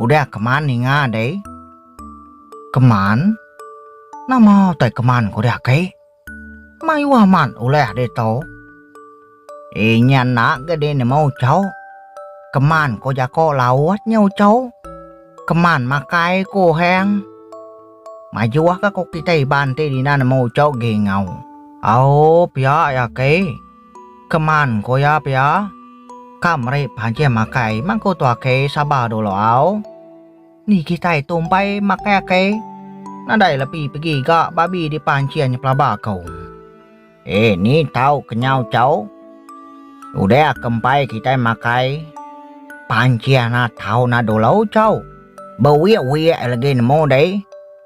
Udah keman ninga deh. Keman? Nama utai keman ko deh ake? Mayuh amat uleh deh to. Inya enda ga deh nemu ucho. Keman ko jako laut nya ucho. Keman makai ko ohang. Majuh ga ko kitai Iban ti dina nemu ucho geh enggau. Au pia ya ake. Keman ko iya pia. Ka meri panjing makai mang ko tu ake sabar dulu au. Ni kitai tu empai makai ake nadai lebi pegi ga babi di panjing pelaba ko. Eh ni tau kenyau chau. Udah ke empai kitai makai panjing na tau na dulu chau. Bewiak wiak legi nemu deh.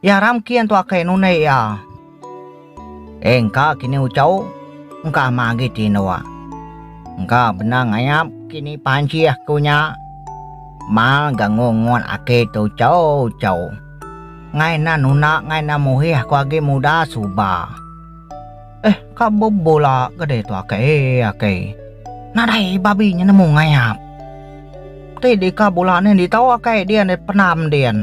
Iya ramkin tu akai nunei iya. Engka kini uchau, engka ama agi ti indua. Engka bendar ngayap kini panci aku nya. Mal gangu ngut aki tu uchau-uchau. Ngai enda nuna ngai enda muhih aku agi muda suba. Eh ka bebula ga deh tu akai eh akai. Nadai babi nya nemu ngayap. Ti deka bula nih ditau akai dian deh penam dian.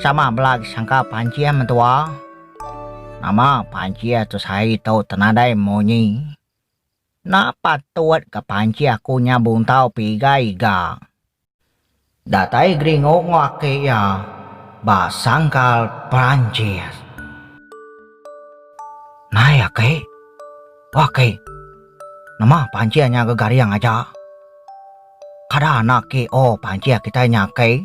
Sama bela sangka pancih mentua. Nama pancih tu sehari tu tenadai munyi. Enda patut ka pancih aku nya buntau piga-iga. Datai Gringo enggau aki iya ba sangkal Perancis. Nai aki. O aki. Nama pancih nya gegaring aja. Kada anak ki o pancih kitai nya aki.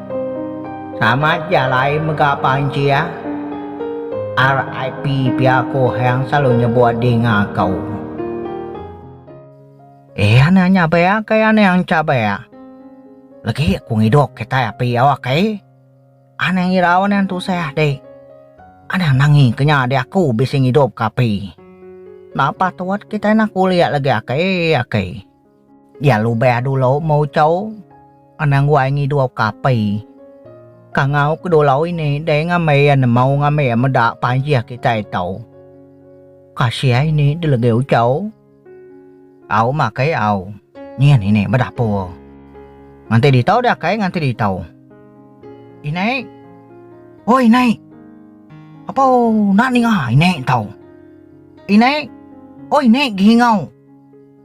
Sama aja alai mega panci ah. RIP pia ko Hang selalu nyebut dinga ko. Eh ane nya be akai ane ancha be. Legi ku ngidup kitai api awak ai. Ane ngirau ane tusah di. Ane nangi ke nya diaku bisi ngidup ke api. Napa tuat kitai nak ulik legi akai akai. Dia lubah dulu meuchau anang wai ngidup ke api. Kangau ke dulu ini deh ngambi iya nemau ngambi iya meda panjih kitai tu. Kasih ini dilegih uchau. Au makai au. Nyin ini bedapur. Nganti ditu deh akai nganti ditu. Inai. Oi inai. Apo enda ninga inai tu. Inai. Oi inai gingau.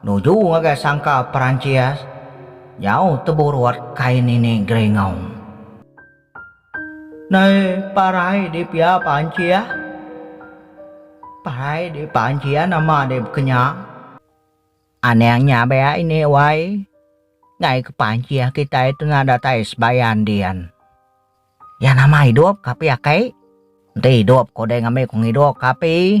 Nuju ngagai sangka Perancis, nyau teburut kain ini geringaum. Nai parai di pia Perancis. Parai di Perancis nama deh bekenyang. Anang nya bea ini wai. Ngai ke Perancis kitai tengah datai sebayan din. Iya nama idup ka pia kai. Enti idup ko deh ngambi ko ngidup ka api.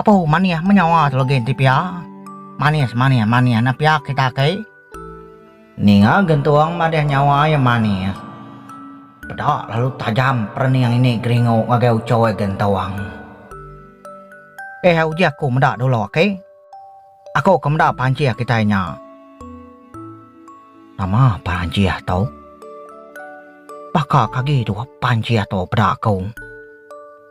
Apu manih menyawa tu legi enti pia. Manis manis manis enda pia kita aki. Ninga gentung madih nyawa iya manis. Peda lalu tajam perening ini geringu ngagai uchoy gentung. Eh uji aku meda dulu aki. Aku ke meda panchih kitai nya. Nama panchih tu? Baka ke agi dua panchih tu peda aku.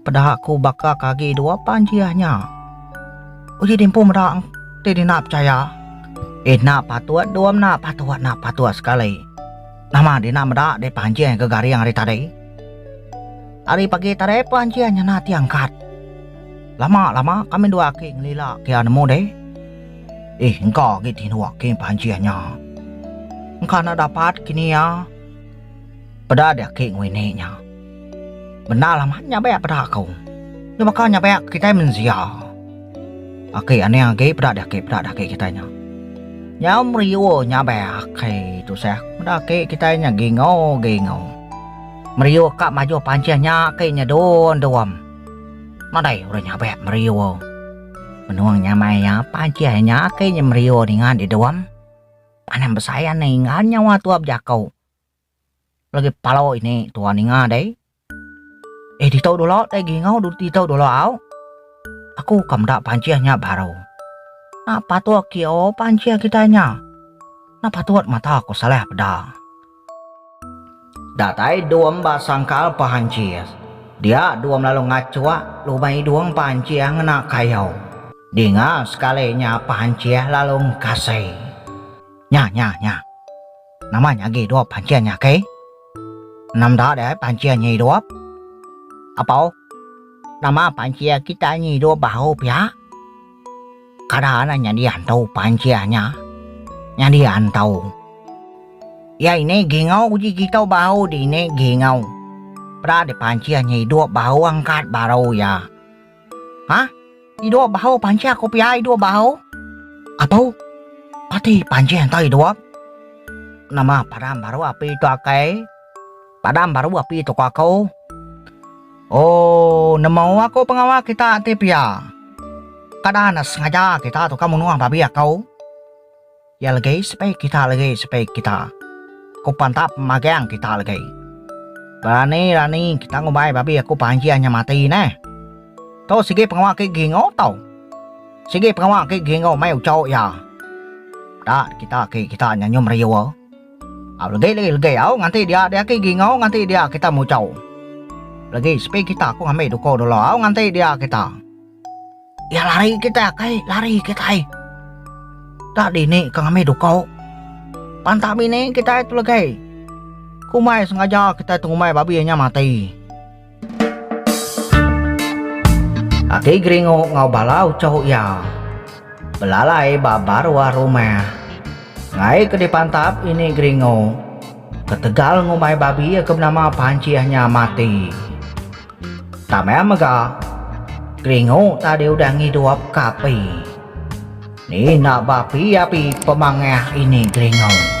Peda aku baka ke agi dua pan ji ah nya. Uji dimpu meda ti dina pechaya. Ina patut dua mena patut enda patut sekali. Nama dina meda deh panjih ke garing hari tadi. Hari pagi tadi panjih nyena ti angkat. Lama lama kami dua aki ngelila kia nemu deh. Ih engka agi tinuk kin panjih nya. Engka enda dapat kini ah. Peda deh aki ngwini nya. Bendar amat nyabek peda aku. Nya baka nyabek kitai mensia. Aki aning agi peda deh aki peda deh aki kitai nya. Nyau meriur nyabek aki tusah meda aki kitai nya gingu gingu. Meriur ka majuh panceh nya aki nyedun dum. Madai orang nyabek meriur. Menung nyamai iya panceh nya aki nya meriur ninga di dum. Anang besai aning enggau nyawa tua bejaku. Lagi palo ini tua ninga deh. Eh ditau dulu deh gingau ditau dulu au. Aku ka meda pancing nya baru. Nak patut kio pancing kitai nya. Nak patut mata ko Saleh peda. Datai dum ba sangkal pancing. Dia dum lalu ngacuk lubang idung pancing ngena kayu. Dinga sekali nya pancing lalu ngkasai. Nya nya nya. Nama nya agi idup pancing nya ke? Enda meda deh pancing nya idup. Apau, nama pancing kitai nya idup baru pia? Kada anang nyadi antu pancing nya. Nyadi antau. Iya ini gingau uji kitai baru dini gingau. Peda deh pancing nya idup baru angkat baru iya. Ha? Ti dua bau panjang aku pia ai dua bau. Atau pati panjang tau dua. Nama padam baru api tu akai? Padam baru api tu aku. Oh, nemu aku pengawa kita ti pia. Kada anak sengaja kita tu ka munuh babi aku. Iya legi sepi kita legi sepi kita Aku pantap magang kita legi Berani rani kita ngumbai babi aku panjir nya mati neh Tu sigi pengawa ke gingo tau Sigi pengawa ke gingo mai uco iya Da kita ke kita nya nyum riur Au legi legi legi au nganti dia dia ke gingo nganti dia kita muco Legi sepi kita aku ngambi duko dulu au nganti dia kita. Iya lari kita kai lari kitai. Tak dini ka ngambi dukau. Pantah bini kitai tu legai. Kumai sengaja kitai tengumbai babi nya mati. Ati Geringu ngau bala uchoh iya belalai ba baruah rumah. Ngai ke dipantap ini Geringu ketegal ngumbai babi ke benama Panchih nya mati. Tamai mega, keringu tadi udah ngidup ka api. Ni enda bapi api pemangah ini keringu.